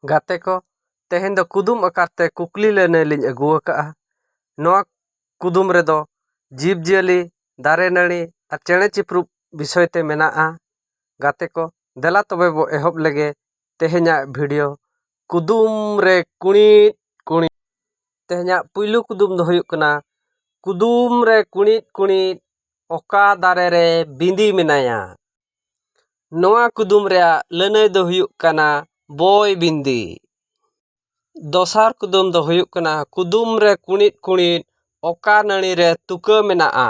ᱜᱟᱛᱮ ᱠᱚ ᱛᱮᱦᱮᱧ ᱫᱚ ᱠᱩᱫᱩᱢ ᱟᱠᱟᱨ ᱛᱮ ᱠᱩᱠᱞᱤ ᱞᱟᱹᱱᱟᱹᱭ ᱞᱤᱧ ᱟᱹᱜᱩ ᱟᱠᱟᱫᱼᱟ ᱱᱚᱣᱟ ᱠᱩᱫᱩᱢ ᱨᱮᱫᱚ ᱡᱤᱵᱽ ᱡᱤᱭᱟᱹᱞᱤ ᱫᱟᱨᱮ ᱱᱟᱹᱲᱤ ᱟᱨ ᱪᱮᱬᱮ ᱪᱤᱯᱨᱩᱫ ᱵᱤᱥᱚᱭ ᱛᱮ ᱢᱮᱱᱟᱜᱼᱟ ᱜᱟᱛᱮ ᱠᱚ ᱫᱮᱞᱟ ᱛᱚᱵᱮ ᱵᱚᱱ ᱮᱦᱚᱵ ᱞᱮᱜᱮ ᱛᱮᱦᱮᱧᱟᱜ ᱵᱷᱤᱰᱤᱭᱳ ᱠᱩᱫᱩᱢ ᱨᱮ ᱠᱩᱬᱤᱫ ᱠᱩᱬᱤᱫ ᱛᱮᱦᱮᱧᱟᱜ ᱯᱩᱭᱞᱩ ᱠᱩᱫᱩᱢ ᱫᱚ ᱦᱩᱭᱩᱜ ᱠᱟᱱᱟ ᱠᱩᱫᱩᱢ ᱨᱮ ᱠᱩᱬᱤᱫ ᱠᱩᱬᱤᱫ ᱚᱠᱟ ᱫᱟᱨᱮ ᱨᱮ ᱵᱤᱸᱫᱤ ᱢᱮᱱᱟᱭᱟ ᱱᱚᱣᱟ ᱠᱩᱫᱩᱢ ᱨᱮᱭᱟᱜ ᱞᱟᱹᱱᱟᱹᱭ ᱫᱚ ᱦᱩᱭᱩᱜ ᱠᱟᱱᱟ ᱵᱚᱭ ᱵᱤᱱᱫᱤ ᱫᱚᱥᱟᱨ ᱠᱩᱫᱩᱢ ᱫᱚ ᱦᱩᱭᱩᱜ ᱠᱟᱱᱟ ᱠᱩᱫᱩᱢ ᱨᱮ ᱠᱩᱬᱤᱫ ᱠᱩᱬᱤᱫ ᱚᱠᱟ ᱱᱟᱹᱲᱤ ᱨᱮ ᱛᱩᱠᱟᱹ ᱢᱮᱱᱟᱜᱼᱟ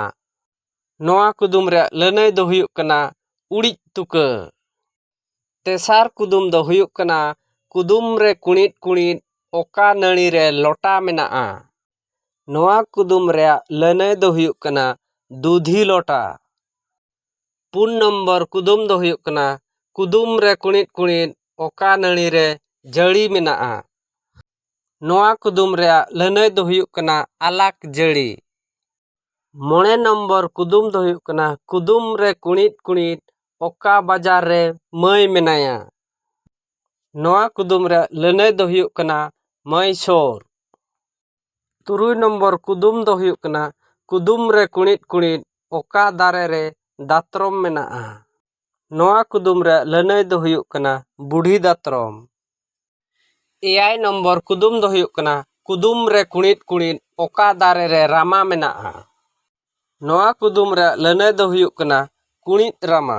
ᱱᱚᱣᱟ ᱠᱩᱫᱩᱢ ᱨᱮᱭᱟᱜ ᱞᱟᱹᱱᱟᱹᱭ ᱫᱚ ᱦᱩᱭᱩᱜ ᱠᱟᱱᱟ ᱩᱲᱤᱡ ᱛᱩᱠᱟᱹ ᱛᱮᱥᱟᱨ ᱠᱩᱫᱩᱢ ᱫᱚ ᱦᱩᱭᱩᱜ ᱠᱟᱱᱟ ᱠᱩᱫᱩᱢ ᱨᱮ ᱠᱩᱬᱤᱫ ᱠᱩᱬᱤᱫ ᱚᱠᱟ ᱱᱟᱹᱲᱤ ᱨᱮ ᱞᱚᱴᱟ ᱢᱮᱱᱟᱜᱼᱟ ᱱᱚᱣᱟ ᱠᱩᱫᱩᱢ ᱨᱮᱭᱟᱜ ᱞᱟᱹᱱᱟᱹᱭ ᱫᱚ ᱦᱩᱭᱩᱜ ᱠᱟᱱᱟ ᱫᱩᱫᱷᱤ ᱞᱚᱴᱟ ᱯᱩᱱ ᱱᱚᱢᱵᱚᱨ ᱠᱩᱫᱩᱢ ᱫᱚ ᱦᱩᱭᱩᱜ ᱠᱟᱱᱟ ᱠᱩᱫᱩᱢ ᱨᱮ ᱠᱩᱬᱤᱫ ᱠᱩᱬᱤᱫ ᱚᱠᱟ ᱱᱟᱹᱲᱤ ᱨᱮ ᱡᱟᱹᱲᱤ ᱢᱮᱱᱟᱜᱼᱟ ᱱᱚᱣᱟ ᱠᱩᱫᱩᱢ ᱨᱮᱭᱟᱜ ᱞᱟᱹᱱᱟᱹᱭ ᱫᱚ ᱦᱩᱭᱩᱜ ᱠᱟᱱᱟ ᱟᱞᱟᱠ ᱡᱟᱹᱲᱤ ᱢᱚᱬᱮ ᱱᱚᱢᱵᱚᱨ ᱠᱩᱫᱩᱢ ᱫᱚ ᱦᱩᱭᱩᱜ ᱠᱟᱱᱟ ᱠᱩᱫᱩᱢ ᱨᱮ ᱠᱩᱬᱤᱫ ᱠᱩᱬᱤᱫ ᱚᱠᱟ ᱵᱟᱡᱟᱨ ᱨᱮ ᱢᱟᱹᱭ ᱢᱮᱱᱟᱭᱟ ᱱᱚᱣᱟ ᱠᱩᱫᱩᱢ ᱨᱮᱭᱟᱜ ᱞᱟᱹᱱᱟᱹᱭ ᱫᱚ ᱦᱩᱭᱩᱜ ᱠᱟᱱᱟ ᱢᱟᱹᱭᱥᱳᱨ ᱛᱩᱨᱩᱭ ᱱᱚᱢᱵᱚᱨ ᱠᱩᱫᱩᱢ ᱫᱚ ᱦᱩᱭᱩᱜ ᱠᱟᱱᱟ ᱠᱩᱫᱩᱢ ᱨᱮ ᱠᱩᱬᱤᱫ ᱠᱩᱬᱤᱫ ᱚᱠᱟ ᱫᱟᱨᱮ ᱨᱮ ᱫᱟᱛᱨᱚᱢ ᱢᱮᱱᱟᱜᱼᱟ ᱱᱚᱣᱟ ᱠᱩᱫᱩᱢ ᱨᱮᱭᱟᱜ ᱞᱟᱹᱱᱟᱹᱭ ᱫᱚ ᱦᱩᱭᱩᱜ ᱠᱟᱱᱟ ᱵᱩᱰᱷᱤ ᱫᱟᱛᱨᱚᱢ ᱮᱭᱟᱭ ᱱᱚᱢᱵᱚᱨ ᱠᱩᱫᱩᱢ ᱫᱚ ᱦᱩᱭᱩᱜ ᱠᱟᱱᱟ ᱠᱩᱫᱩᱢ ᱨᱮ ᱠᱩᱬᱤᱫ ᱠᱩᱬᱤᱫ ᱚᱠᱟ ᱫᱟᱨᱮ ᱨᱮ ᱨᱟᱢᱟ ᱢᱮᱱᱟᱜᱼᱟ ᱱᱚᱣᱟ ᱠᱩᱫᱩᱢ ᱨᱮᱭᱟᱜ ᱞᱟᱹᱱᱟᱹᱭ ᱫᱚ ᱦᱩᱭᱩᱜ ᱠᱟᱱᱟ ᱠᱩᱬᱤᱫ ᱨᱟᱢᱟ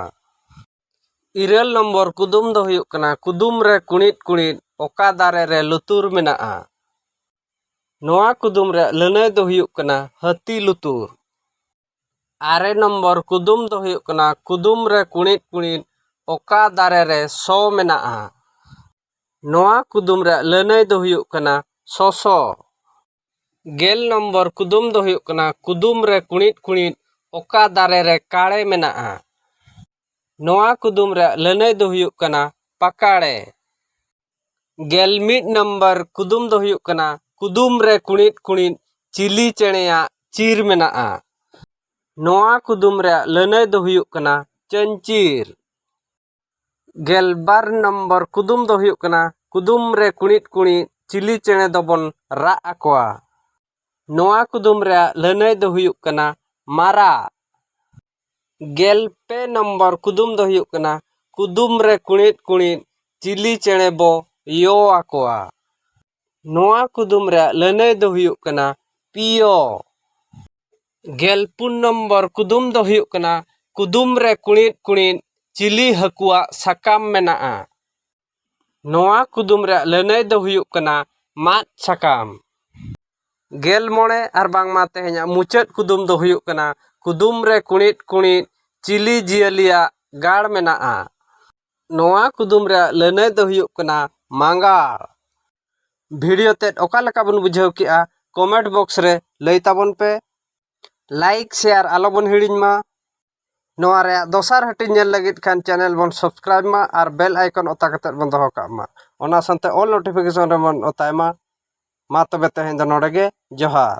ᱤᱨᱟᱹᱞ ᱱᱚᱢᱵᱚᱨ ᱠᱩᱫᱩᱢ ᱫᱚ ᱦᱩᱭᱩᱜ ᱠᱟᱱᱟ ᱠᱩᱫᱩᱢ ᱨᱮ ᱠᱩᱬᱤᱫ ᱠᱩᱬᱤᱫ ᱚᱠᱟ ᱫᱟᱨᱮ ᱨᱮ ᱞᱩᱛᱩᱨ ᱢᱮᱱᱟᱜᱼᱟ ᱱᱚᱣᱟ ᱠᱩᱫᱩᱢ ᱨᱮᱭᱟᱜ ᱞᱟᱹᱱᱟᱹᱭ ᱫᱚ ᱦᱩᱭᱩᱜ ᱠᱟᱱᱟ ᱦᱟᱹᱛᱤ ᱞᱩᱛᱩᱨ ᱟᱨᱮ ᱱᱚᱢᱵᱚᱨ ᱠᱩᱫᱩᱢ ᱫᱚ ᱦᱩᱭᱩᱜ ᱠᱟᱱᱟ ᱠᱩᱫᱩᱢ ᱨᱮ ᱠᱩᱬᱤᱫ ᱠᱩᱬᱤᱫ ᱚᱠᱟ ᱫᱟᱨᱮ ᱨᱮ ᱥᱚ ᱢᱮᱱᱟᱜᱼᱟ ᱱᱚᱣᱟ ᱠᱩᱫᱩᱢ ᱨᱮᱭᱟᱜ ᱞᱟᱹᱱᱟᱹᱭ ᱫᱚ ᱦᱩᱭᱩᱜ ᱠᱟᱱᱟ ᱥᱚᱥᱚ ᱜᱮᱞ ᱱᱚᱢᱵᱚᱨ ᱠᱩᱫᱩᱢ ᱫᱚ ᱦᱩᱭᱩᱜ ᱠᱟᱱᱟ ᱠᱩᱫᱩᱢ ᱨᱮ ᱠᱩᱬᱤᱫ ᱠᱩᱬᱤᱫ ᱚᱠᱟ ᱫᱟᱨᱮ ᱨᱮ ᱠᱟᱲᱮ ᱢᱮᱱᱟᱜᱼᱟ ᱱᱚᱣᱟ ᱠᱩᱫᱩᱢ ᱨᱮᱭᱟᱜ ᱞᱟᱹᱱᱟᱹᱭ ᱫᱚ ᱦᱩᱭᱩᱜ ᱠᱟᱱᱟ ᱯᱟᱠᱟᱲᱮ ᱜᱮᱞ ᱢᱤᱫ ᱱᱚᱢᱵᱚᱨ ᱠᱩᱫᱩᱢ ᱫᱚ ᱦᱩᱭᱩᱜ ᱠᱟᱱᱟ ᱠᱩᱫᱩᱢ ᱨᱮ ᱠᱩᱬᱤᱫ ᱠᱩᱬᱤᱫ ᱪᱤᱞᱤ ᱪᱮᱬᱮᱭᱟᱜ ᱪᱤᱨ ᱢᱮᱱᱟᱜᱼᱟ ᱱᱚᱣᱟ ᱠᱩᱫᱩᱢ ᱨᱮᱭᱟᱜ ᱞᱟᱹᱱᱟᱹᱭ ᱫᱚ ᱦᱩᱭᱩᱜ ᱠᱟᱱᱟ ᱪᱟᱹᱧᱪᱤᱨ ᱜᱮᱞᱵᱟᱨ ᱱᱚᱢᱵᱚᱨ ᱠᱩᱫᱩᱢ ᱫᱚ ᱦᱩᱭᱩᱜ ᱠᱟᱱᱟ ᱠᱩᱫᱩᱢ ᱨᱮ ᱠᱩᱬᱤᱫ ᱠᱩᱬᱤᱫ ᱪᱤᱞᱤ ᱪᱮᱬᱮ ᱫᱚᱵᱚᱱ ᱨᱟᱜ ᱟᱠᱚᱣᱟ ᱱᱚᱣᱟ ᱠᱩᱫᱩᱢ ᱨᱮᱭᱟᱜ ᱞᱟᱹᱱᱟᱹᱭ ᱫᱚ ᱦᱩᱭᱩᱜ ᱠᱟᱱᱟ ᱢᱟᱨᱟᱜ ᱜᱮᱞ ᱯᱮ ᱱᱚᱢᱵᱚᱨ ᱠᱩᱫᱩᱢ ᱫᱚ ᱦᱩᱭᱩᱜ ᱠᱟᱱᱟ ᱠᱩᱫᱩᱢ ᱨᱮ ᱠᱩᱬᱤᱫ ᱠᱩᱬᱤᱫ ᱪᱤᱞᱤ ᱪᱮᱬᱮ ᱵᱚ ᱭᱚ ᱟᱠᱚᱣᱟ ᱱᱚᱣᱟ ᱠᱩᱫᱩᱢ ᱨᱮᱭᱟᱜ ᱞᱟᱹᱱᱟᱹᱭ ᱫᱚ ᱦᱩᱭᱩᱜ ᱠᱟᱱᱟ ᱯᱤᱭᱳ ᱜᱮᱞ ᱯᱩᱱ ᱱᱚᱢᱵᱚᱨ ᱠᱩᱫᱩᱢ ᱫᱚ ᱦᱩᱭᱩᱜ ᱠᱟᱱᱟ ᱠᱩᱫᱩᱢ ᱨᱮ ᱠᱩᱬᱤᱫ ᱠᱩᱬᱤᱫ ᱪᱤᱞᱤ ᱦᱟᱹᱠᱩᱣᱟᱜ ᱥᱟᱠᱟᱢ ᱢᱮᱱᱟᱜᱼᱟ ᱱᱚᱣᱟ ᱠᱩᱫᱩᱢ ᱨᱮᱭᱟᱜ ᱞᱟᱹᱱᱟᱹᱭ ᱫᱚ ᱦᱩᱭᱩᱜ ᱠᱟᱱᱟ ᱢᱟᱫ ᱥᱟᱠᱟᱢ ᱜᱮᱞ ᱢᱚᱬᱮ ᱟᱨ ᱵᱟᱝᱢᱟ ᱛᱮᱦᱮᱧᱟᱜ ᱢᱩᱪᱟᱹᱫ ᱠᱩᱫᱩᱢ ᱫᱚ ᱦᱩᱭᱩᱜ ᱠᱟᱱᱟ ᱠᱩᱫᱩᱢ ᱨᱮ ᱠᱩᱬᱤᱫ ᱠᱩᱬᱤᱫ ᱪᱤᱞᱤ ᱡᱤᱭᱟᱹᱞᱤᱭᱟᱜ ᱜᱟᱲ ᱢᱮᱱᱟᱜᱼᱟ ᱱᱚᱣᱟ ᱠᱩᱫᱩᱢ ᱨᱮᱭᱟᱜ ᱞᱟᱹᱱᱟᱹᱭ ᱫᱚ ᱦᱩᱭᱩᱜ ᱠᱟᱱᱟ ᱢᱟᱸᱜᱟᱲ ᱵᱷᱤᱰᱤᱭᱳ ᱛᱮᱫ ᱚᱠᱟ ᱞᱮᱠᱟ ᱵᱚᱱ ᱵᱩᱡᱷᱟᱹᱣ ᱠᱮᱜᱼᱟ ᱠᱚᱢᱮᱱᱴ ᱵᱚᱠᱥ ᱨᱮ ᱞᱟᱹᱭ ᱛᱟᱵᱚᱱ ᱯᱮ ᱞᱟᱭᱤᱠ ᱥᱮᱭᱟᱨ ᱟᱞᱚ ᱵᱚᱱ ᱦᱤᱲᱤᱧ ᱢᱟ ᱱᱚᱣᱟ ᱨᱮᱭᱟᱜ ᱫᱚᱥᱟᱨ ᱦᱟᱹᱴᱤᱧ ᱧᱮᱞ ᱞᱟᱹᱜᱤᱫ ᱠᱷᱟᱱ ᱪᱮᱱᱮᱞ ᱵᱚᱱ ᱥᱟᱵᱥᱠᱨᱟᱭᱤᱵᱽ ᱢᱟ ᱟᱨ ᱵᱮᱞ ᱟᱭᱠᱚᱱ ᱚᱛᱟ ᱠᱟᱛᱮᱫ ᱵᱚᱱ ᱫᱚᱦᱚ ᱠᱟᱜ ᱢᱟ ᱚᱱᱟ ᱥᱟᱶᱛᱮ ᱚᱞ ᱱᱳᱴᱤᱯᱷᱤᱠᱮᱥᱚᱱ ᱨᱮᱵᱚᱱ ᱚᱛᱟᱭ ᱢᱟ ᱢᱟ ᱛᱚᱵᱮ ᱛᱮᱦᱮᱧ ᱫᱚ ᱱᱚᱰᱮ ᱜᱮ ᱡᱚᱦᱟᱨ